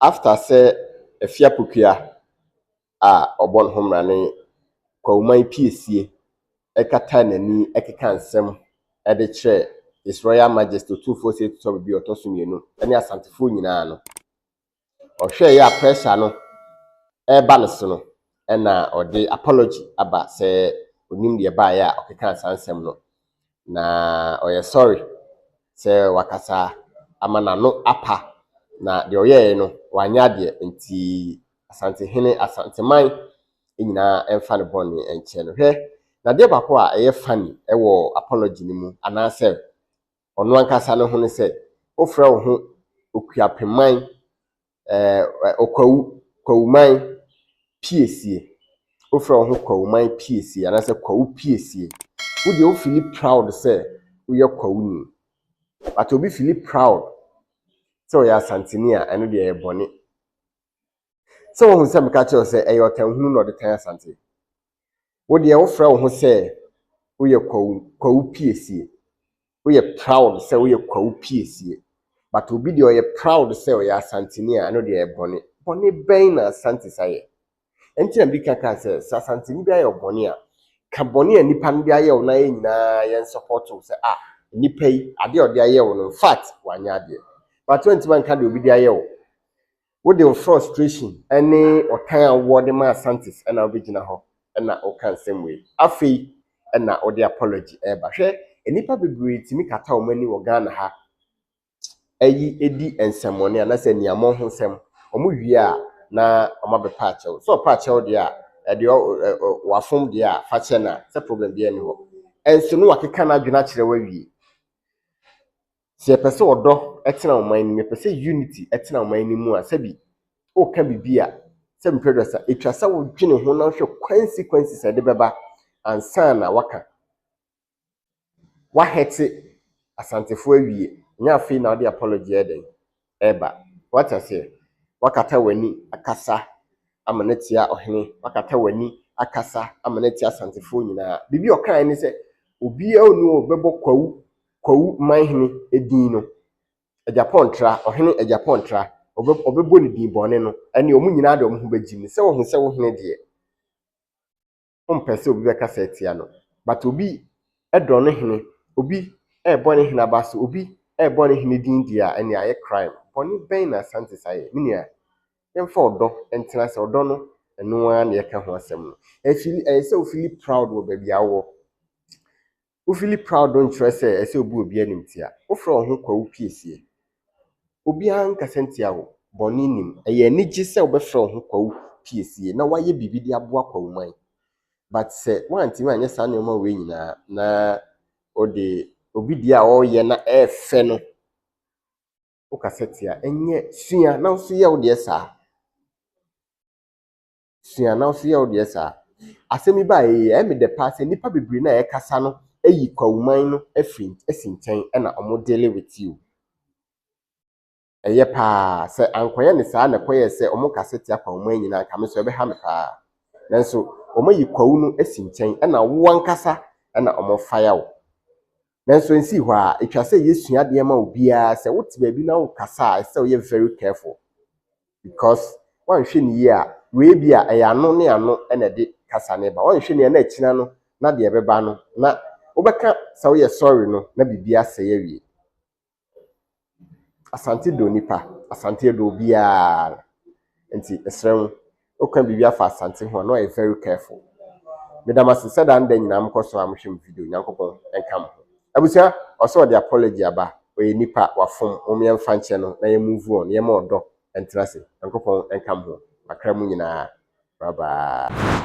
After sɛ Afia Pokuaa a ɔbɔ ne ho mmara ne Kwawoman Piesie ɛkata n'ani ɛkeka nsɛm ɛde kyerɛ His Royal Majesty Otumfoɔ Osei Tutu Abubi a ɔtɔ so mmienu ɛne Asantefoɔ nyinaa no, ɔhwɛeɛ a pressure no ɛreba ne so no, ɛna ɔde apology aba sɛ ɔnim deɛ ɛbaeɛ a ɔkekaa saa nsɛm no. na ɔyɛ sɔre sɛ wakasa ama n'ano apa, na deɛ ɔyɛeɛ no, wanyɛ adeɛ. Nti Asantehene, Asanteman nyinaa mfa ne bɔne nkyɛ no. Hwɛ, na adeɛ baako a ɛyɛ funny wɔ apology no mu, anaasɛ ɔno ankasa ne ho ne sɛ, wofrɛ wo ho Okuapeman eh, Okwawu, Kwawuman Piesie. Wofrɛ wo ho Kwawuman Piesie anaasɛ Kwawu Piesie. Wo deɛ wo fili proud sɛ woyɛ Kwawuni. But obi fili proud sɛ ɔyɛ Asanteni a, ɛno deɛ ɛyɛ bɔne. Sɛ wohu sɛ meka kyerɛ wo sɛ ɛyɛ ɔtanhunu na ɔde tan Asante. Wo deɛ wofrɛ wo ho sɛ woyɛ Kwawu, Kwawu Piesie. Woyɛ proud sɛ woyɛ Kwawu Piesie. But obi deɛ ɔyɛ proud sɛ ɔyɛ Asanteni a, ɛno deɛ ɛyɛ bɔne. Bɔne bɛn na Asantes ayɛ? Ɛnti na medi kan kaa sɛ, sɛ Asanteni bi ayɛ ɔbɔne a, ka bɔne a nnipa no de ayɛ wo no ayɛ nyinaa yɛn support wo sɛ ah, nnipa yi, adeɛ a ɔde ayɛ wo no, in fact, wanyɛ adeɛ. But wantumi anka deɛ obi de ayɛ wo. Wode wo frustration ne ɔtan a wowɔ de ma Asante's na wobɛgyina hɔ na woka nsɛm wei. Afei na wode apology reba. Hwɛ, nnipa bebree tumi kata wɔn ani wɔ Ghana ha yi di nsɛmmɔne anaasɛ aniammɔn ho nsɛm. Wɔwie a na wɔabɛpa akyɛ wo. Sɛ ɔpa akyɛ wo deɛ a, deɛ wafom deɛ a fa kyɛ no a, sɛ problem biara nni hɔ. Ɛnso na wakeka n'adwene akyerɛ wo awie. Sɛ yɛpɛ sɛ ɔdɔ tena ɔman no mu, yɛpɛ sɛ unity tena ɔman no mu a, sɛbi woka biribi a, sɛ mepɛ dress a, etwa sɛ wodwene ho na wohwɛ consequences a ɛde bɛba ansa na waka. Wahɛte Asantefo awie, ɛnyɛ afei na wode apology yɛ dɛn. reba. Wate aseɛ? Woakata w'ani akasa amena atia ɔhene, woakata w'ani akasa amena atia asantefoɔ nyinaa. Biribi a ɔkaeɛ ne sɛ, obiara ɔni hɔ a ɔbɛbɔ Kwawu, Kwawu Manhene edin no, Agyapong Tra, ɔhene Agyapong Tra, ɔbɛ, ɔbɛbɔ ne din bɔne no, ɛnneɛ wɔn nyinaa de wɔn ho bɛgyim no. Sɛ woahu sɛ wo hene deɛ. ɔmpɛ sɛ obi bɛkasa atia no. But obi dɔ ne hene, obi rebɔ ne hene aba so, obi rebɔ ne hene din deɛ a, ɛnea ayɛ crime. Bɔne bɛn na Asante saa yɛ? Me nua, yɛmfa ɔdɔ ntena ase. Ɔdɔ no, ɛno ara na yɛka ho asɛm no. Ɛfili, ɛyɛ sɛ wofili proud wɔ baabi a wowɔ. Wo fili proud no nkyerɛ sɛ ɛsɛ obu obi animtia. Wo frɛ wo ho kwawu piesie. Obiara nkasa ntia wo. Bɔne nnim. Ɛyɛ anigye sɛ wobɛfrɛ wo ho kwawu piesie na woayɛ biribi de aboa kwawuman. But sɛ woantumi anyɛ saa nneɛma wei nyinaa na wode obi deɛ a ɔreyɛ na ɛrefɛ no wokasa tia. Ɛnyɛ sua na wo nso yɛ wo deɛ saa. sua na ɔso yɛ wo deɛ saa. Asɛm yi baeɛ yi, ɛyɛ me dɛ paa sɛ nnipa bebree no a yɛkasa no ayi Kwawoman no afiri asi nkyɛn na wɔn dealing with you. Ɛyɛ paa. Sɛ ankɔyɛ no saa na ɛkɔyɛɛ sɛ wɔkasa tia Kwawoman nyinaa anka me nso ɛbɛha me paa. Nanso wɔayi Kwawu no asi nkyɛn ɛna wo ankasa na wɔfaya wo. Nanso ɛnsii hɔ ara, ɛtwa sɛ yɛsua adeɛ ma obiara. Sɛ wote baabi na worekasa a, ɛsɛ sɛ woyɛ very careful. because woanhwɛ no yie a wei bi a ɛyɛ ano ne ano na ɛde kasa no ba woanhwɛ no yie a na akyina no na deɛ ɛbɛba no na wobɛka sɛ woyɛ sorry no na biribi asɛe awie asante dɔ nipa asante ɛdɔ obiara nti ɛsrɛ wo woka biribi afa asante ho a na ɔyɛ very careful meda mo ase sɛ daa no da nyinaa mokɔ so a mohwɛ mo video nyankopɔn ɛnka mo ho Abusua ɔsɛ ɔde apology aba ɔyɛ nipa wafom mom yɛnfa nkyɛ no na yɛ move on yɛma ɔdɔ ɛntra se nyankopɔn ɛnka moho makra mu nyinaa bye bye.